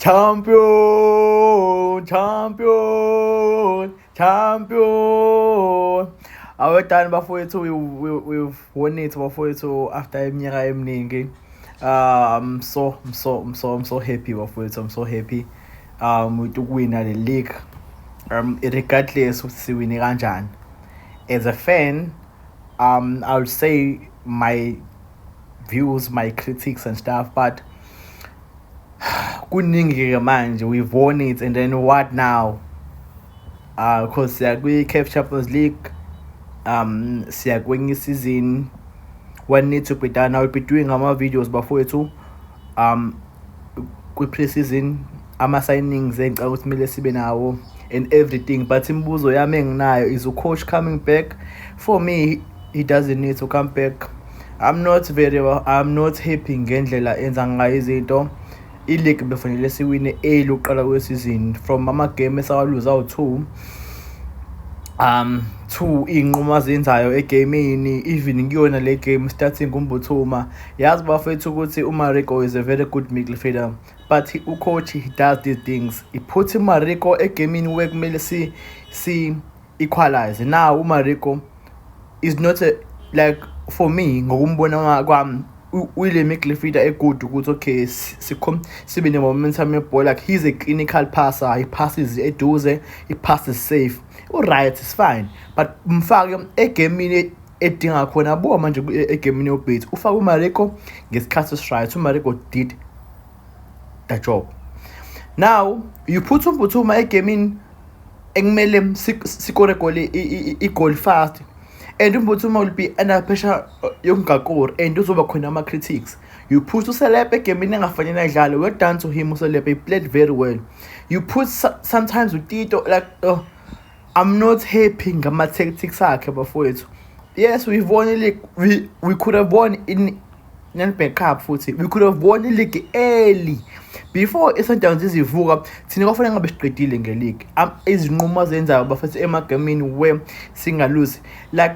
Champion, champion, champion. Awetani bafowethu we, we, we've won it bafowethu after iminyaka eminingi. Um so I'm so I'm so I'm so happy bafowethu I'm so happy um with ukuwina le league. Um regardless ukuthi siwine kanjani. As a fan um I would say my views my critics and stuff but kuningi-ke manje we've won it and then what now uh cause siya kwi-caf champions league um siya kwenye isizini one need to be done now we'll be doing ama-videos bafowethu um kwi-pre-season ama-signings engicabanga ukuthi kumele sibe nawo and everything but imibuzo yami enginayo is ucoach coming back for me he doesn't need to come back i'm not very well i'm not happy ngendlela enza ngayo izinto i-league befanele siwine early ukuqala kwesizini from ama-game esawaluza awu-two um two iy'nqumo azenzayo egemini even kuyona le game starting kumbuthuma Yazi bafethu ukuthi uMariko is a very good midfielder but ucoach he does these things iphutha uMariko egemini where kumele si si equalize now uMariko is not a, like for me ngokumbona kwami uyile midfielder egood ukuthi okay sikhom sibe ne-momentum yebhola like he's a clinical passer he passes eduze he passes safe u-right is fine but mfake egemini edinga khona buka manje egemini yobheti ufake umariko ngesikhathi esiright umariko did the job now you put umphuthuma egemini ekumele sikore goli igoli fast and umphuthuma will be under pressure yokungakori and uzoba khona ama-critics you put uselebe egemini engafanele ayidlale well done to him uselebe he played very well you put sometimes utito like oh, I'm not happy ngama tactics akhe bafowethu. Yes, we won the league. We we could have won in Nedbank Cup futhi. We could have won the league early. Before iSundowns izivuka, thina kwafanele ngabe siqedile ngeleague. Izinqumo azenzayo bafethu emagamini we singaluzi. Like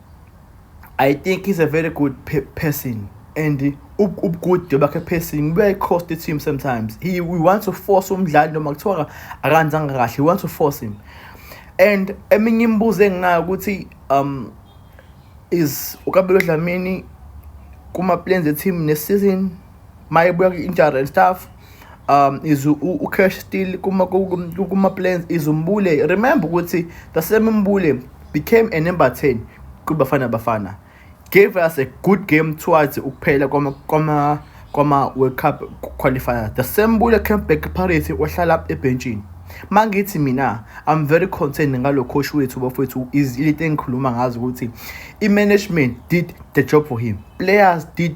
I think he's a very good pe person and ubugude bakhe person buyayi-cost team sometimes he we want to force umdlali noma kuthiwa akanzanga kahle we want to force him and eminye imibuzo enginayo ukuthi um is ukabelo dlamini kuma-plans e-team ne-season mayibuya kwi-injury and stuff um is ucash still kuma-plans is umbule remember ukuthi the same mbule became a number 10 kubafana bafana gave us a good game towards ukuphela kwama-world cup qualifier the same mbule came back parity wahlala ebhentshini ma ngithi mina i'm very concerned ngalo coach wethu bafowethu izilite engikhuluma ngazo ukuthi i-management did the job for him players did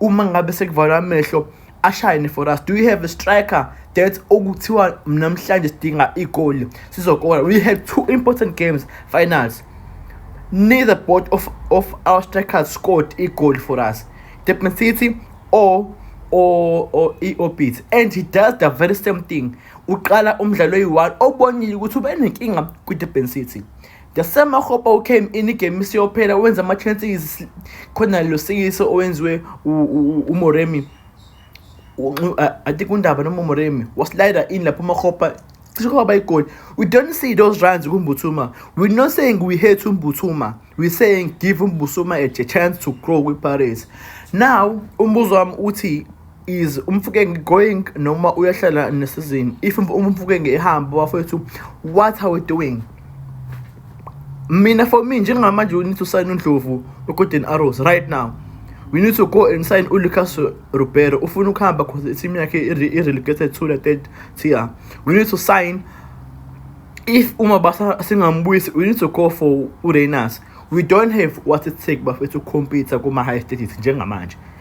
uma ngabe sekuvalwa amehlo ashayene for us do you have a striker that okuthiwa namhlanje sidinga igoli sizokora we had two important games finals neither both of, of our strikers scored a goal for us Depen City or or or i-orbit and he does the very same thing uqala umdlalo oyi-one obonile ukuthi ubenenkinga kwi-durban city The same Makgopa who came in igame isiyophela wenza ama-chances khona lo sikiso owenziwe umoremi i think undaba noma umoremi waslida in lapho umakgopa cishe kwaba igoli we don't see those runs kumbuthuma we're not saying we hate umbuthuma we're saying give umbuthuma a chance to grow kwi-paris now umbuzo wami uthi is umfukenge going noma uyahlala nesizini if umfukenge ehamba bafowethu what are we doing mina for me njengamanje we need to sign undlovu wegolden arrows right now we need to go and sign uLucas Ribeiro ufuna ukuhamba because i-team yakhe i-relegated to the third tier we need to sign if uma basa singambuyisi we need to go for uReyners we don't have what it take bafethu compete kuma-high status njengamanje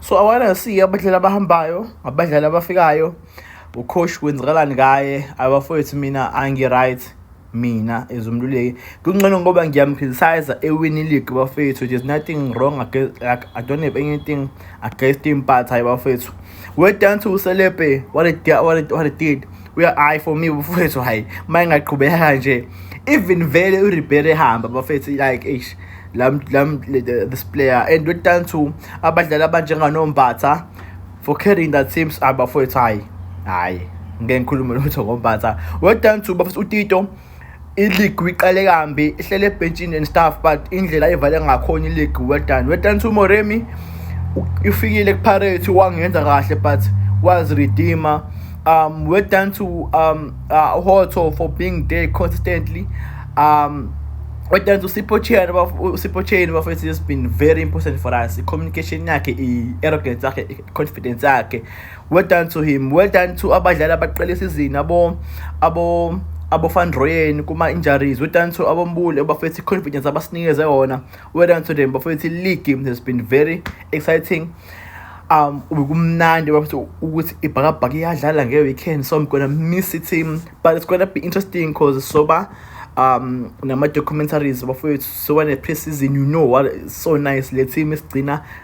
so awana si abadlali abahambayo abadlali abafikayo ucoach kwenzakalani ngaye abafowethu mina angi-right mina as umluleki kungcono ngoba ngiyamcriticize ewini league bafethu there's nothing wrong against, like, i don't have anything against him but hayi bafethu we're down to uselebe what it, what it, what it did hayi for me bafowethu hayi uma ingaqhubeka kanje even vele uribery ehamba bafethu like eish lam lam this player and we're down to abadlali abanjenganombatha for carrying that teams abafowethu hayi hayi ngeke ngikhulume lutho ngombatha we're down to bafethu utito iligi iqale kambi ihlele ebhentshini and stuff but indlela evale ngakhona iligi well done well done to Moremi ifikile kuPirates wangenza kahle but was redeemer um well done to um uh, Hotto for being there consistently um well done to Sipho Chain Sipho Chain bafethu has been very important for us i communication yakhe i arrogance yakhe i confidence yakhe Well done to him. Well done to abadlali abaqala isizini abo abo abofandroyeni kuma injuries. Well done to abombule bafethu confidence abasinikeze yona. Well done to them bafethu league game has been very exciting. Um ubekumnandi bafethu ukuthi ibhakabhaka iyadlala nge weekend so I'm going to miss it team but it's going to be interesting cause soba um nama documentaries bafethu so when a pre-season you know what so nice le team isigcina